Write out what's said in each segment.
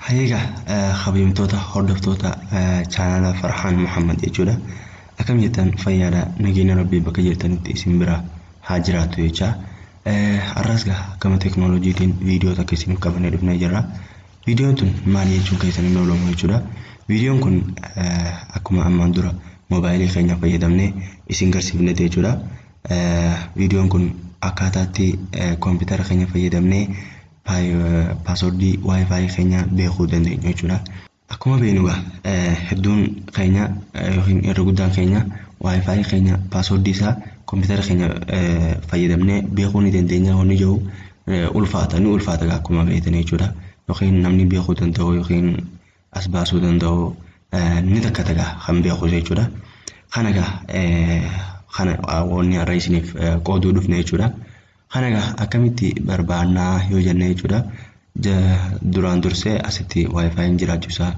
Hayeega kabajamtoota hordoftoota chaanala Farhaan Muhammad jechuudha. Akkam jettan fayyaadha nageenya rabbii bakka jirtanitti isin bira haa jiraatu jecha. Har'as gaa gama teknooloojiitiin viidiyoo takka isiniif qabannee dhufnee jirra. Viidiyoon tun maal jechuun keessan hin oolamu jechuudha. Viidiyoon kun akkuma ammaan dura moobaayilii keenya fayyadamnee isin garsiifne jechuudha. Viidiyoon kun akkaataatti koompitara keenya fayyadamnee paaswordii waayifaayi keenya beekuu dandeenyu jechuudha. Akkuma beeknu hedduun keenya yookiin irra guddaan keenya waayifaayi keenya paaswordii isaa koompitara keenya fayyadamnee beekuu ni dandeenya honni jiru ulfaata ni ulfaata egaa akkuma beektan jechuudha yookiin namni beekuu danda'u yookiin as baasuu danda'u ni takkata egaa kan beeku jechuudha kana egaa kana wanni har'a isiniif qooduu dhufne jechuudha kana egaa akkamitti barbaannaa yoo jenne jechuudha duraan dursee asitti waayifaayiin jiraachuusaa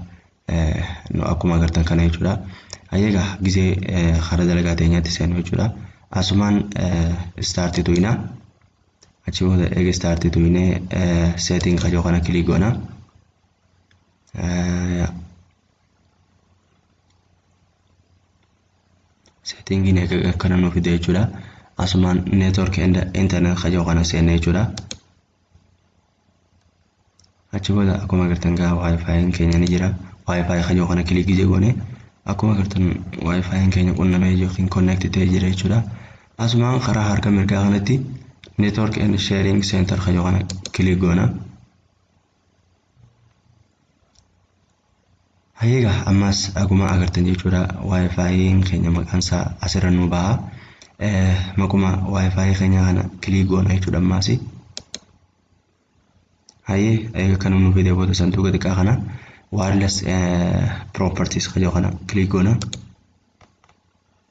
akkuma agartan kana jechuudha ayyagaa gisee hara dalagaa teenyaatti seenu jechuudha asumaan istaarti tuyinaa Achi booda eega start tuqne setting ka jiru kana click goona. Settingiin eega akkana nu fide jechuudha. Asumaan network and internet ka jiru kana seenne jechuudha. achi booda akkuma agartan gaa waayifaayiin keenya ni jira waayifaayi kajoo kana kilikii jegoone akkuma agartan waayifaayiin keenya qunnamee yookiin konneekti ta'ee jira jechuudha asumaan karaa harka mirgaa kanatti network and sharing center kajoo kana kilik goona Hayyee egaa ammas akkuma agartan jechuudha wifi'n keenya maqaan isaa asirra nu baha. Maquma wifi keenya kana kilik goona jechuudha ammaas. Hayyee egaa kan nu fide booda sanduuqa xiqqaa kana wireless properties kan jedhu kana kilik goona.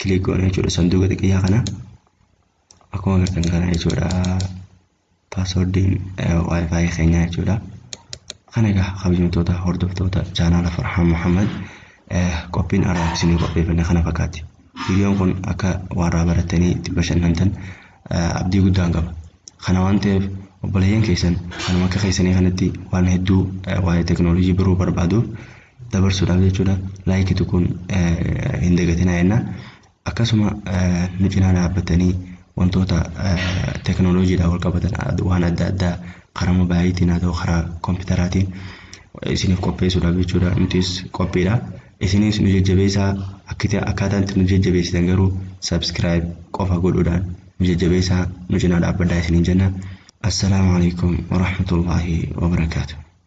kilik goona jechuudha sanduuqa xiqqiyyaa kana akkuma agartan kana jechuudha paaswordiin waayifaayi keenyaa jechuudha kana egaa kabajamtoota hordoftoota chaanaala farhaan muhammad qophiin araaf isinii qopheeffanne kana fakkaatti viidiyoon kun akka warraa barattanii itti bashannantan abdii guddaan qaba kana waan ta'eef obboleeyyan keessan kanuma akka keessanii kanatti waan hedduu waa'ee teknoolojii baruu barbaaduuf dabarsuudhaaf jechuudha laayikii tuquun hin dagatinaa jenna akkasuma nu cinaa dhaabbatanii wantoota teknooloojiidhaan wal qabatan waan adda addaa karaa mobaayiliitiin haa ta'u karaa kompiitaraatiin isiniif qopheessuudhaaf jechuudha nutis qophiidha isinis nu jajjabeessaa akkaataan itti nu jajjabeessitan garuu sabskiraayib qofa godhuudhaan nu jajjabeessaa nu cinaa dhaabbadhaa isiniin jenna assalaamu alaikum warahmatullaahi wabarakaatuh